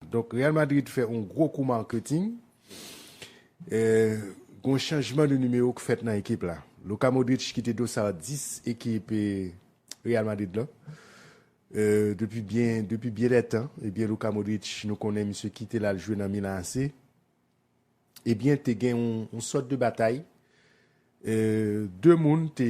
Donk Real Madrid fè yon gwo kou marketing, gen yon chanjman de nimewo ki fèt nan ekip la. Luka Modric ki te dosar 10 ekip Real Madrid lan depi byen de tan, ebyen Luka Modric nou konnen misye kite l al jwe nan Milan AC, ebyen te gen yon sòt de batay, 2 moun te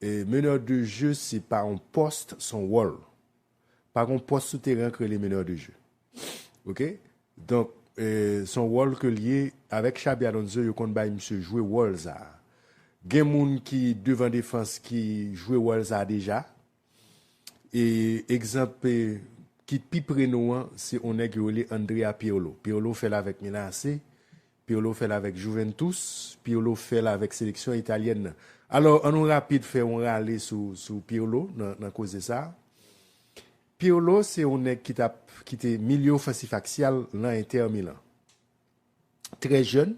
Meneur de jeu se pa yon post son wòl. Pa gon post sou teren an k rele meneur de jeu. Ok donk son wòl ke l ye avèk Xabi Alonso yo konn bay misye jwe wòl sa. Gen moun ki devan defans ki jwe wòl sa deja. E egzanp ki pi pre nou an se yon nèg yo rele Andrea Pirlo. Pirlo fè l avèk Milan AC Pirlo fè l avèk Juventus, Pirlo fè l avèk seleksyon italyèn nan. Alò, an nou rapid fè yon rale sou Pirlo nan koze sa a. Pirlo se yon nèg ki t ap, ki te milye ofansif aksyal nan Inter Milan. Trè jèn,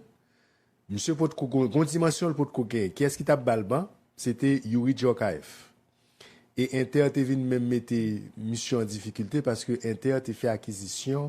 misye potko gen yon dimansyon l potko genyen. Kiyès ki t ap ba l ban? Se te Youri Djorkaeff. E Inter te vin menm mete misye an difikilte paske Inter te fè akizisyon.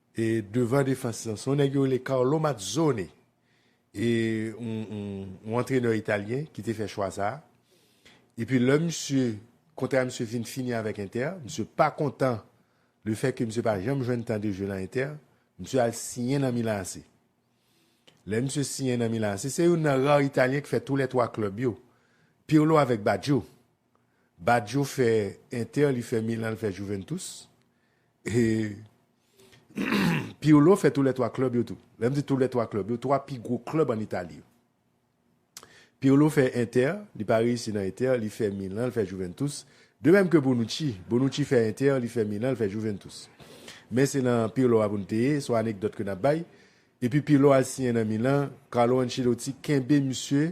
E devan defans lan, se yon nèg yo rele Carlo Mazzone, e yon antrenè italyen ki te fè chwa sa a. Epi lè misye, kontra misye vin fini avèk Inter, misye pa kontan le fè ke misye pa janm jwenn tan de jwe lan Inter, misye al siyen nan Milan AC. Lè misye siyen nan Milan AC, se youn nan rar italyen ki fè tou lè twa klèb yo, Pirlo avèk Baggio. Badio fè Inter li fè Milan li fè Juventus e Pirlo fè tou lè 3 club yo tou lèm di tou lè 3 club yo 3 pi gwo club an Italie yo Pirlo fè Inter li pa reyisi nan Inter li fè Milan li fè Juventus de mèm ke Bonucci Bonucci fè Inter li fè Milan li fè Juventus men se nan Pirlo a poun te ye son anekdòt ke nap bay epi Pirlo al siyen nan Milan Carlo Ancelotti kenbe misye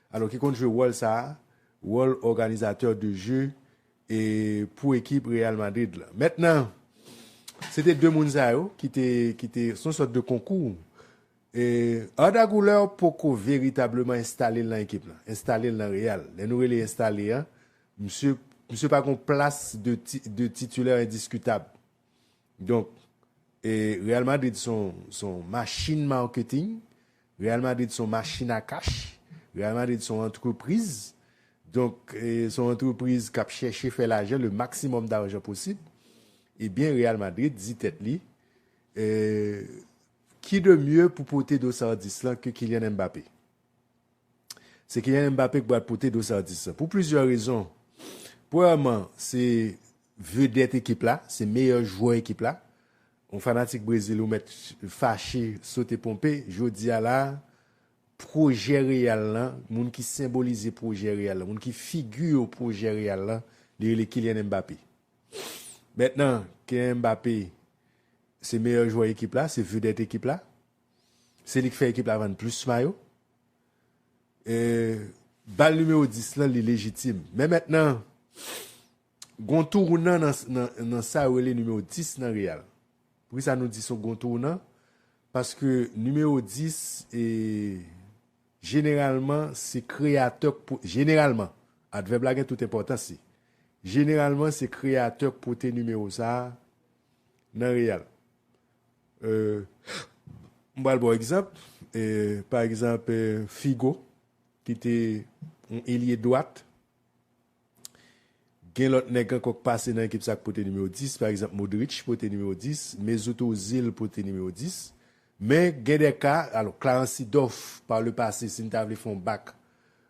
Alò ki konn jwe wòl sa a, wòl òganizatè de je e pou ekip Real Madrid la. Mentnan, se te 2 moun sa yo ki te, ki te, son sòt de konkou. E Arda Guler poko veritableman enstale l nan ekip lan, enstale l nan Real. Lè nou rele enstale an, misye, misye pa gon plas de ti, de titulaire indiskutable. Donk Real Madrid son machin marketing, Real Madrid son machin a kach, Real Madrid son antrepriz, donk son antrepriz k ap chèche fè lajan, le maksimòm darjan posib, ebyen Real Madrid di tèt li, ki de mye pou pote dosardis lan ke Kylian Mbappé? Se Kylian Mbappé ki pral pote do Saudis la. Pou plizyè rezon. Premyèman, se vedèt ekip la, se meyè jwè ekip la. Yon fanatik Brezil ou mèt fache, sote ponpe. Jodi a la, pwojè Real la, moun ki senbolize pwojè Real la, moun ki figi pwojè Real la, li rele Kylian Mbappé. Mètnan, Kylian Mbappé se meyè jwè ekip la, se vedèt ekip la. Se li k fè ekip la vann plis mayo. Bal nimewo 10 lan li lejitim. Men mentnan, gon tounan nan sa yo rele nimewo 10 nan Real. Poukisa nou di son gon tounan? Paske nimewo 10, jeneralman, se kreyatè, jeneralman, advèb la gen tout enpòtans li. Jeneralman, se kreyatè k pote nimewo sa a nan Real. M pral ba w egzanp, pa egzanp Figo ki te yon elye dwat, gen lòt nèg ankò k pase nan ekip sa k pote nimewo 10, pa egzanp Modric pote nimewo 10, Mesut Ozil pote nimewo 10, men gen de ka, alò Clarence Seedorf pa le pase si n ta vle fè yon bak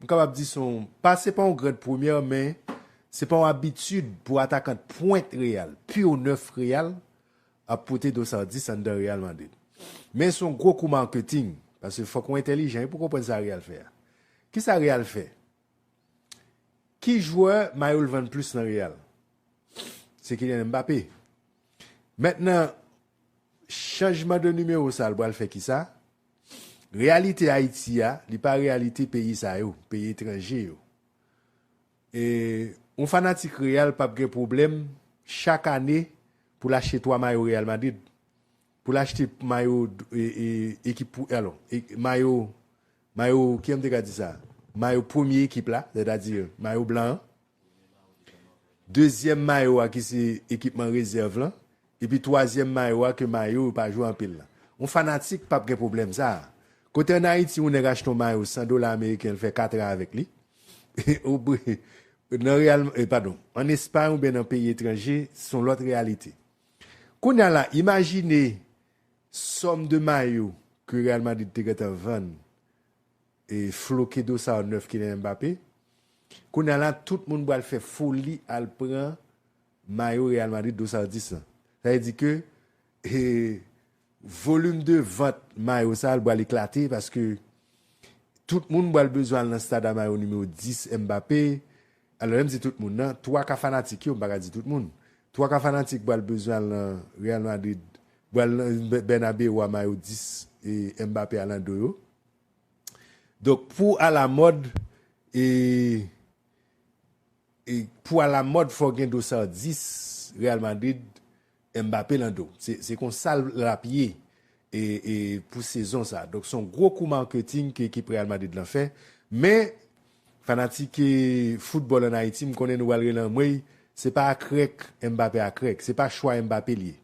M kapab di son pa se pa yon grand premyè men se pa yon abitid pou atakant pwent Real, pur nèf Real ap pote dos Ardis anndan Real Madrid. Men son gwo kou marketing paske fòk ou entèlijan wi pou konprann sa Real fè a. Kisa Real fè? Ki jwè mayo l vann plis nan Real? Se Kylian Mbappé. Mentnan chanjman de nimewo sa l pral fè kisa? Reyalite Ayiti a, li pa reyalite peyi sa yo, peyi etranje yo. E, yon fanatik Real pap gen pwoblèm chak ane pou l achte 3 mayo Real Madrid, pou l achte mayo ekip pou, alon, mayo, mayo, kijan m te ka di sa? Mayo premye ekip la, sètadi mayo blan an. Dezyèm mayo a ki se ekipman rezèv lan, epi twazyèm mayo a ke mayo yo pa jwe anpil lan. Yon fanatik pap gen pwoblèm sa a. Kote an Ayiti yon nèg achte yon mayo 100 dola ameriken li fè 4 an avèk li, ou byen nan Real, padon, an Espay ou byen nan peyi etranje se yon lòt reyalite. Kounye a la, imajine sòm de mayo ke Real Madrid te gentan vann. Floke dosar 9 Kylian Mbappé Kounya la tout moun pral fè foli al pran mayo Real Madrid dosar 10 lan sa vle di ke volume de vant mayo sa li pral eklate paske tout moun pral bezwen al nan stad a mayo nimewo 10 Mbappé alò lèm di tout moun nan 3 ka fanatik yo m paka di tout moun 3 ka fanatik pral bezwen al nan Real Madrid pral nan Bernabeu a mayo 10 Mbappé a nan do yo. Donk pou alamòd e e pou alamòd fò gen do sardis Real Madrid Mbappé lan do. Se konsa l ap ye e e pou sezon sa. Donk son gwo kou marketing ke ekip Real Madrid lan fè. Men fanatik e foutbòl an Ayiti m konnen nou pral rele anmweyy se pa akrèk Mbappé akrèk. Se pa chwa Mbappé l ye.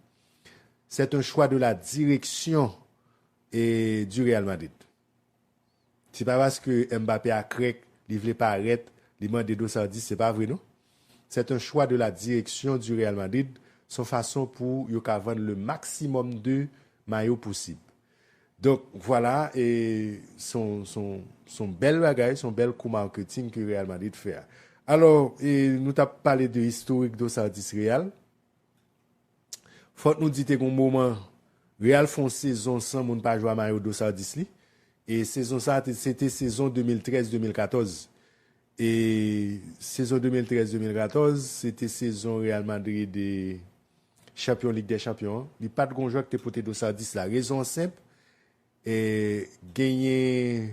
Sèt en chwa de la direksyon E du Real Madrid. Se pa paske Mbappé a krèk li vle parèt li mande dosardis se pa vre non. C'est un choix de la direction du Real Madrid son fason pou yo ka vann le maximum de mayo pousib. Donk vwala e son son son bèl bagay son bèl kou marketing ke Real Madrid fè a. Alò e nou tap pale de historik dosardis Real. Fòk nou di te gen yon moman Real fè yon sezon san moun pa jwe a mayo Dosardis li e sezon sa te se te sezon 2013, 2014 e sezon 2013, 2014 se te sezon Real Madrid chanpyon Lig dè Chanpyon an li pa t gen yon jwè ki te pote Dosardis la rezon an senp e genyen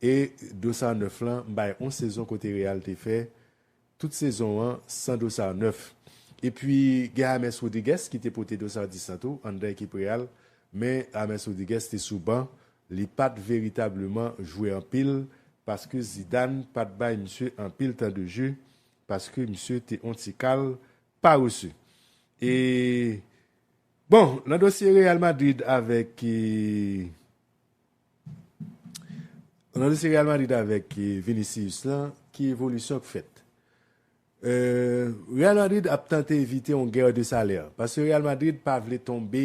E Dossard 9 lan m bay on sezon kote Real te fè tout sezon an san Dossard 9. Epi gen James Rodriguez ki te pote Dossard 10 lan tou anndan ekip Real men James Rodriguez te sou ban li pa t veritableman jwe anpil paske Zidane pa t bay misye anpil tan de jeu paske misye te on ti kal parese. E bon nan dosye Real Madrid avèk. Nan dosye Real Madrid avèk Vinicius lan, ki evolisyon k fèt? Real Madrid ap tante evite yon guerre de salaire, paske Real Madrid pa vle tonbe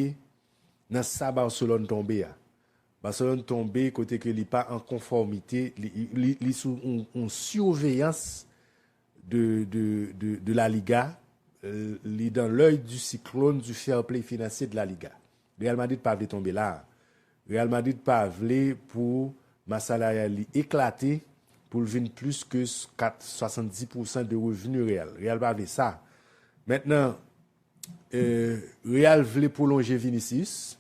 nan sa Barcelone tonbe a. Barcelone tonbe kote ke li pa an konfòmite, li sou yon surveillance de La Liga, li dans l'oeil du cyclone du fair play financier de La Liga. Real Madrid pa vle tonbe la. Real Madrid pa vle pou mas salariyal li eklate pou l vin plis ke 70 pousan de revni Real. Real pa vle sa. Mentnan Real vle pwolonje Vinicius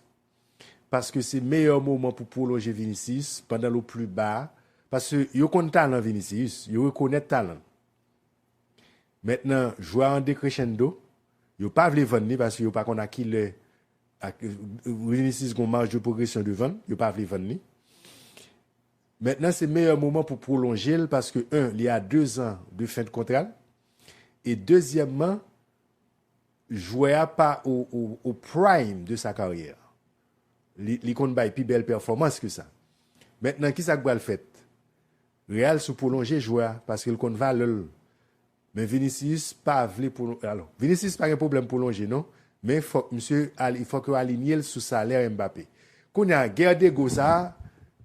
paske se meyè moman pou pwolonje Vinicius pandan l o pli ba paske yo konn talan Vinicius, yo rekonèt talan l. Mèt nan jwa an decrescendo, yo pa vle vann li paske yo pa konn a ki lè Vinicius gon marge de progression devan l, yo pa vle vann li. Mèt nan se meyè moman pou pwolonje l paske 1 li a 2 zan de fen de kontra l e dezyèmman jwè a pa o prime de sa karyè. Li konn bay pi bèl pèfòmans ke sa. Mèt nan ki sa k pral fèt? Real sou pwolonje jwè a paske l konn valè l men Vinicius pa vle pwolonje alò Vinicius pa gen pwoblèm pwolonje non men fòk misye al fòk yo alinye l sou salè Mbappé kounye a gè dego sa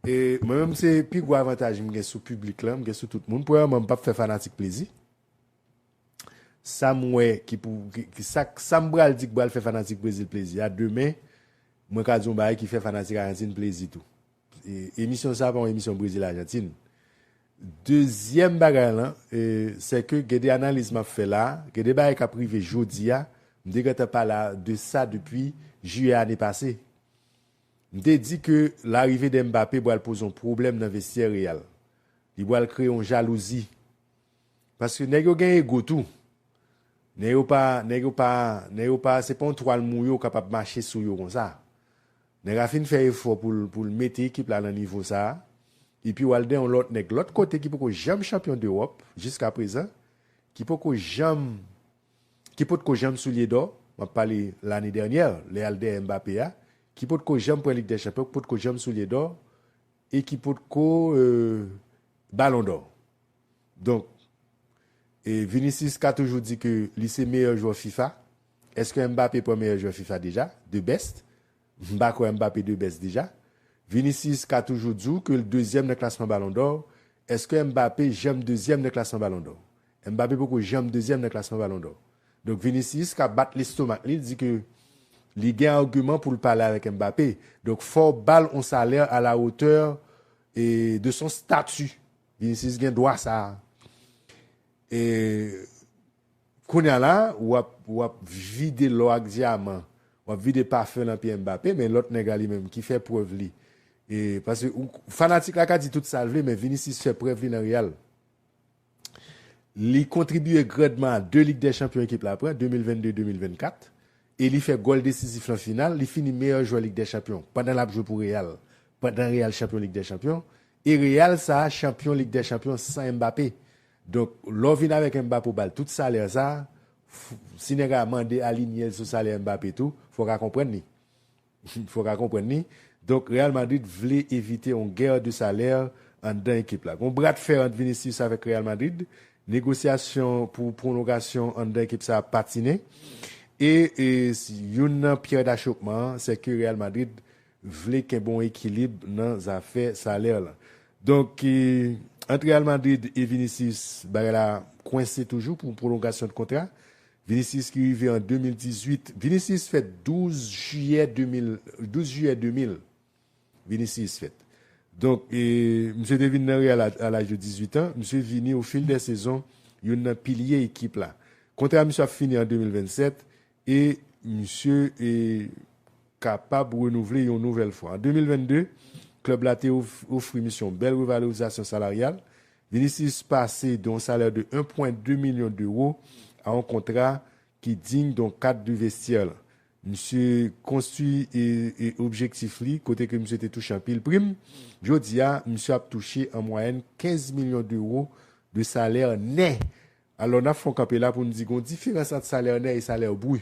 e mwen menm se pi gwo avantaj m gen sou piblik lan m gen sou tout moun premyèman m pap fè fanatik plezi sa m wè ki pou ki sa k sa m pral di k pral fè fanatik Brezil plezi a demen mwen ka di yon bagay ki fè fanatik Ajantin plezi tou Emisyon sa pa yon emisyon Brezil Ajantin. Dezyèm bagay lan, sè ke gen de analiz map fè la, gen de bagay kap rive jodi a, m te gentan pale de sa depi Jiyè ane pase. M te di ke larive de Mbappé pral poze yon pwoblèm nan vestyè Real. Li pral kreye yon jalouzi. Paske nèg yo gen ego tou. Nèg yo pa, nèg yo pa, nèg yo pa, se pa yon twal mouye ou kapab mache sou yo konsa. Nèg a fin fè efò poul poul mete ekip la nan nivo sa a. Epi wal den yon lòt nèg lòt kote ki poko janm chanpyon dEròp jiska prezan, ki poko janm ki potko janm soulye dò, map pale lane dènyè lè al dèyè Mbappé a, ki potko janm pran lig dè chanpyon, ki potko janm soulye dò e ki potko balon dò. Donk Vinicius ka toujou di ke li se meyè jwè fifa, eske Mbappé pran meyè jwè fifa deja, the best? M pa kwè Mbappé the best deja. Vinicius ka toujou di w ke l dezyèm nan klasman balon dò, eske Mbappé janm dezyèm nan klasman balon dò? Mbappé poko janm dezyèm nan klasman balon dò. Donk Vinicius ka bat lestomak li, di ke li gen agiman pou l pale avèk Mbappé. Donk fò w ba l on salè a la otè de son stati Vinicius gen dwa sa a. E kounye a la w ap vide lò ak dyaman, w ap vide pafen lan pye Mbappé, men lòt nèg la li menm ki fè prèv li. E paske fanatik la ka di tout sa l vle men Vinicius fè prèv li nan Real. Li kontribye grandman a 2 Lig dè Chanpyon ekip la pran, 2022, 2024. E li fè gòl desizif lan final, li fini meyè jwè Lig dè Chanpyon pandan l ap jwe pou Real, pandan Real chanpyon Lig dè Chanpyon. E Real sa chanpyon lig dè chanpyon san Mbappé donk lè w vin avèk Mbappé w ba l tout salè sa si nèg a mande alinye l sou salè Mbappé tou fò w ka konprann li fò w ka konprann li donk Real Madrid vle evite on guerre de salaire anndan ekip la gon bra de fer ant Vinicius avèk Real Madrid negosyasyon pou pwonlogasyon anndan ekip sa ap patinen e youn nan pyè dachopman an sèke Real Madrid vle kenbe yon ekilib nan zafè salè lan. Donk, ant Real Madrid e Vinicius, bagay la kwense toujou pou pwolongasyon de kontra. Vinicius ki rive an 2018, Vinicius fèt 12 jiyè 2000, 12 jiyè 2000 Vinicius fèt. Donk, misye te vin nan Real a laj de 18 an, misye vini o fil dè sezon youn nan pilye ekip la. Kontra misye ap fini an 2027, E misye e kapab renouvle yon nouvèl fwa. An 2022, klèb la te ofri misye yon bèl revalorizasyon salaryal. Vinicius pase de yon salè de 1,2 milyon dewo a yon kontra ki digne d'un cadre de vestiaire lan. Misye konstwi e objektif li kote ke misye te touche anpil prim. Jodi a, misye ap touche an mwayèn 15 milyon dewo de salè nè Alò n ap fè yon kanpe la pou n di gen yon diferans ant salè nè e salè bri.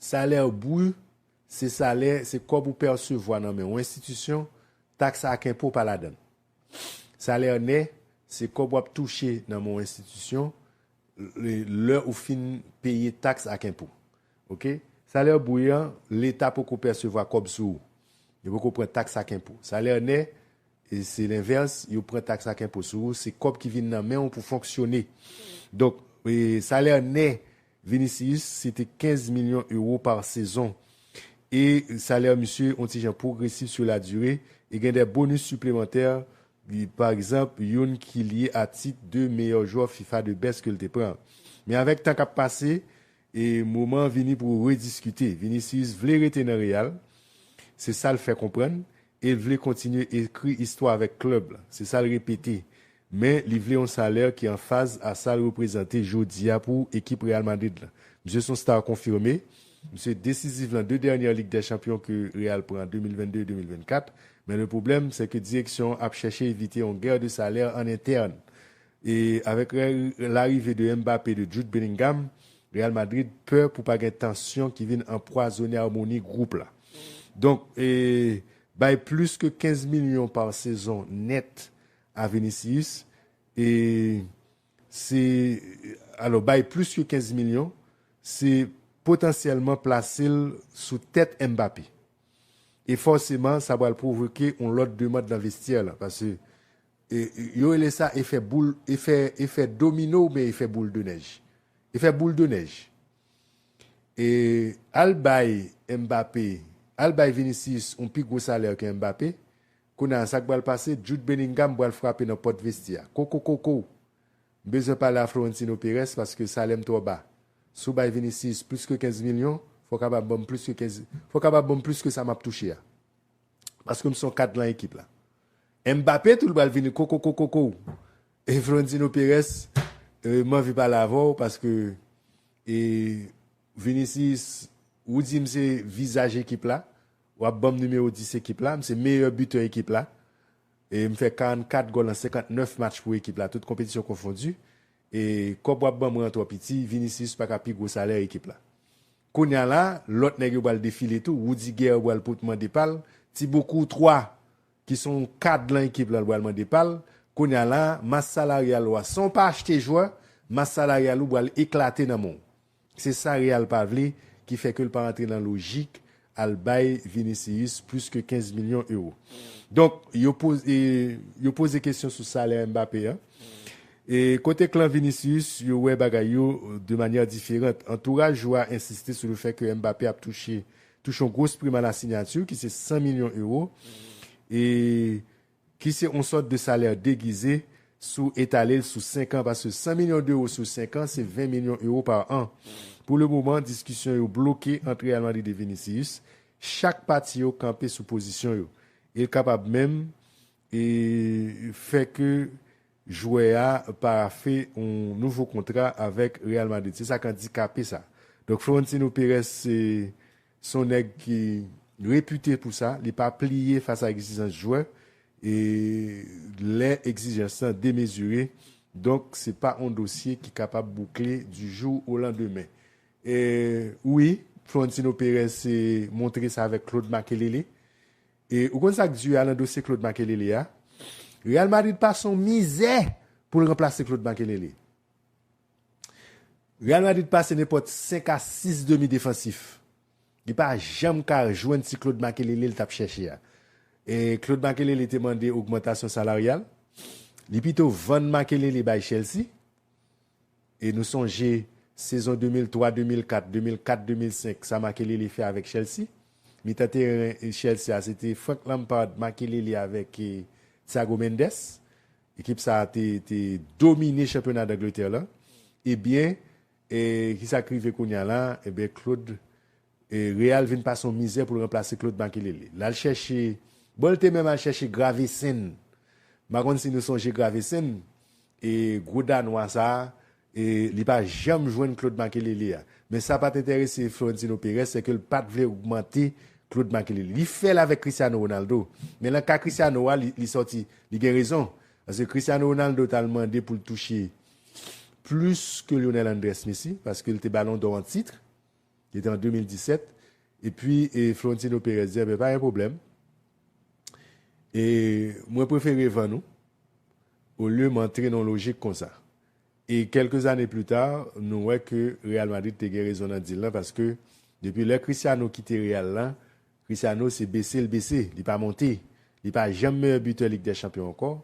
Salè bri se salè, se kòb ou pèsevwa nan men yon enstitisyon, taks ak enpo pa ladan l. Salè nè se kòb w ap touche nan men yon enstitisyon lè ou fin peye taks ak enpo. Ok. Salè bri an, Leta poko pèsevwa kòb sou ou. Yo poko pran taks ak enpo. Salè nè, Se lenvès, yo pran taks ak enpo sou ou, se kòb ki vin nan men ou pou fonksyone. Donk, salè nè Vinicius se te 15 milyon ewo pa sezon. E salè misye on ti jan pwogresif sou la dire e gen dè bonus siplemantè, pa egzanp youn ki lye a tit de meyè jwè fifa de best ke l te pran. Men avèk tan k ap pase, E moman an vini pou rediskite. Vinicius vle rete nan Real, se sa l fè konprann, e l vle kontinye ekri istwa avèk klèb la, se sa l repete. Men li vle yon salè ki an faz a sa l reprezante jodi a pou ekip Real Madrid la. Misye s on star konfime, misye desiziv lan 2 dènyè Lig dè Chanpyon ke Real pran an 2022 e 2024, men le pwoblèm sè ke direksyon an ap chèche evite yon guerre de salaire an interne E avèk larive de Mbappé de Jude Bellingham, Real Madrid pè pou pa gen tansyon ki vin anpwazone amoni gwoup la. Donk e bay plis ke 15 milyon par sezon nèt a Vinicius e se alò bay plis ke 15 milyon se potansyèlman plase l sou tèt Mbappé. E fòseman sa pral pwovoke yon lòt demand nan vestyè la pase Yo rele sa efè boul, efè, efè domino oubyen efè boul de nèj. Efè boul de nèj. E al bay Mbappé, al bay Vinicius yon pi gwo salè ke Mbappé, kounye a sa k pral pase, Jude Bellingham pral frape nan pòt vestye a. Kokokoko! M bezwen pale a Florentino Perez paske salè m twò ba. Si w bay Vinicius plis ke 15 milyon, fò w kapab ban m plis ke 15, fò w kapab ban m plis ke sa m ap touche a. Paske m se yon kad lan ekip la. Mbappé tou li pral vini kokokokokoo e Florentino Perez m anvi pale avè w paske e Vinicius ou di m se vizaj ekip la w ap banm nimewo 10 ekip la m se meyè bitè ekip la e m fè 44 gòl an 59 match pou ekip la tout konpetisyon konfondi e kòb w ap banm rantre piti Vinicius paka pi gwo salè ekip la Kounya la lòt nèg yo pral defile tou, Rudiger pral pot mande pal, Thibaut Courtois ki son yon kad lan ekip la l pral mande pal, kounya la mas salaryal ou a san w pa achte jwè, mas salaryal ou pral eklate nan men w. Se sa Real pa vle ki fè ke l pa antre nan lojik al bay Vinicius plis ke 15 milyon euro. Donk yo poze yo poze kesyon sou salè Mbappé an. E kote klan Vinicius, yo wè bagay yo de manyè diferant. Antouraj jwè a ensiste sou le fè ke Mbappé ap touche touche yon gros prime à la signature ki se 100 milyon euro e ki se yon sòt de salè degize si w etale l sou 5 an paske 100 milyon deuro sou 5 an se 20 milyon euro par an. Pou le moman, diskisyon yo bloke ant Real Madrid e Vinicius. Chak pati yo kanpe sou pozisyon yo. E l kapab menm E fè ke jwè a parafe yon nouvo kontra avèk Real Madrid. Se sa k andikape sa. Donk Florentino Perez se se yon nèg ki repite pou sa. Li pa pliye fas a egzijans jwè. E lè egzijans lan demezire. Donk se pa yon dosye ki kapab boukle di jou o landemen. E wi Florentino Perez se montre sa avèk Claude Makelele. E ou konn sak du a nan dosye Claude Makelele a? Real Madrid pase yon mizè poul ranplase Claude Makelele. Real Madrid pase nenpòt 5 a 6 demi defansif. Li pa janm ka jwenn ti Claude Makelele li tap chèche a. E Claude Makelele te mande ogmantasyon salaryal. Li pito vann Makelele bay Chelsea. E nou sonje sezon 2003, 2004, 2004, 2005 sa Makelele fè avèk Chelsea. Mitan teren Chelsea a se te Frank Lampard, Makelele avèk Thiago Mendes. Ekip sa a te domine chanpyona Dangletè lan. Ebyen, ki sa k rive kounya la? Ebyen Claude Real vin pase yon mizè poul ranplase Claude Makelele. Lal chèche, bon l te menm al chèche Gravesen. M pa konn si nou sonje Gravesen, e gwo danwa sa, e li pa janm jwenn Claude Makelele a. Men sa pat entèrese Florentino Perez se ke l pat vle ogmante Claude Makelele. Li fè l avèk Cristiano Ronaldo, men lan ka Cristiano a li sòti, li gen rezon. Paske Cristiano Ronaldo t al mande pou l touche plis ke Lionel Andrés Messi, paske l te Balon dò an titre. Li te an 2017 epi Florentino Perez di enben pa gen pwoblèm e mwen prefere vann ou olye m antre nan yon lojik konsa. E kèlke zane pli ta nou wè ke Real Madrid te gen rezon nan dil lan paske depi lè Cristiano kite Real la Cristiano se bese l bese li pa monte li pa janm meyè bitè Lig dè Chanpyon ankò.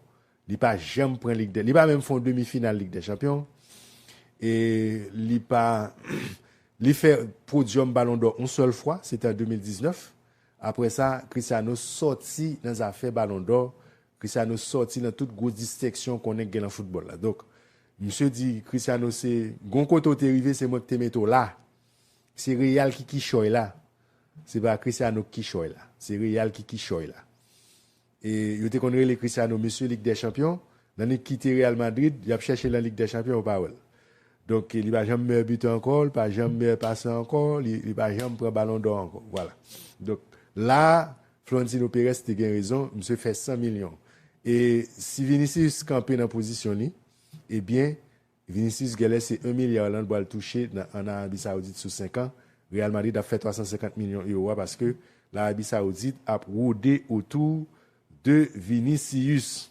Li pa janm pran lig dè, li pa menm fè yon demi final lig dè chanpyon e li pa li fè podium balon dò yon sèl fwa se te an 2019 aprè sa Cristiano sòti nan zafè balon dò, Cristiano sòti nan tout gwo distenksyon konnen k gen nan foutbòl la donk misye di Cristiano se gon kote w te rive se mwen k te mete w la se Real ki kichòy la se pa Cristiano k kichòy la se Real ki kichòy la. E yo te konn rele Cristiano mesye lig dè chanpyon, nan li kite Real Madrid, yap chèche lan lig dè chanpyon yo pa wèl. Donk li pa janm meyè bitè ankò, li pa janm meyè pasan ankò, li pa janm pran balon dò ankò. Vwala. Donk la a Florentino Perez te gen rezon, misye fè 100 milyon. E si Vinicius kanpe nan pozisyon li, ebyen Vinicius gèlè se 1 milya Hollande pral touche nan an Arabi Saoudit sou 5 an, Real Madrid ap fè 350 milyon euro a paske Larabi Saoudit ap rode otou de Vinicius.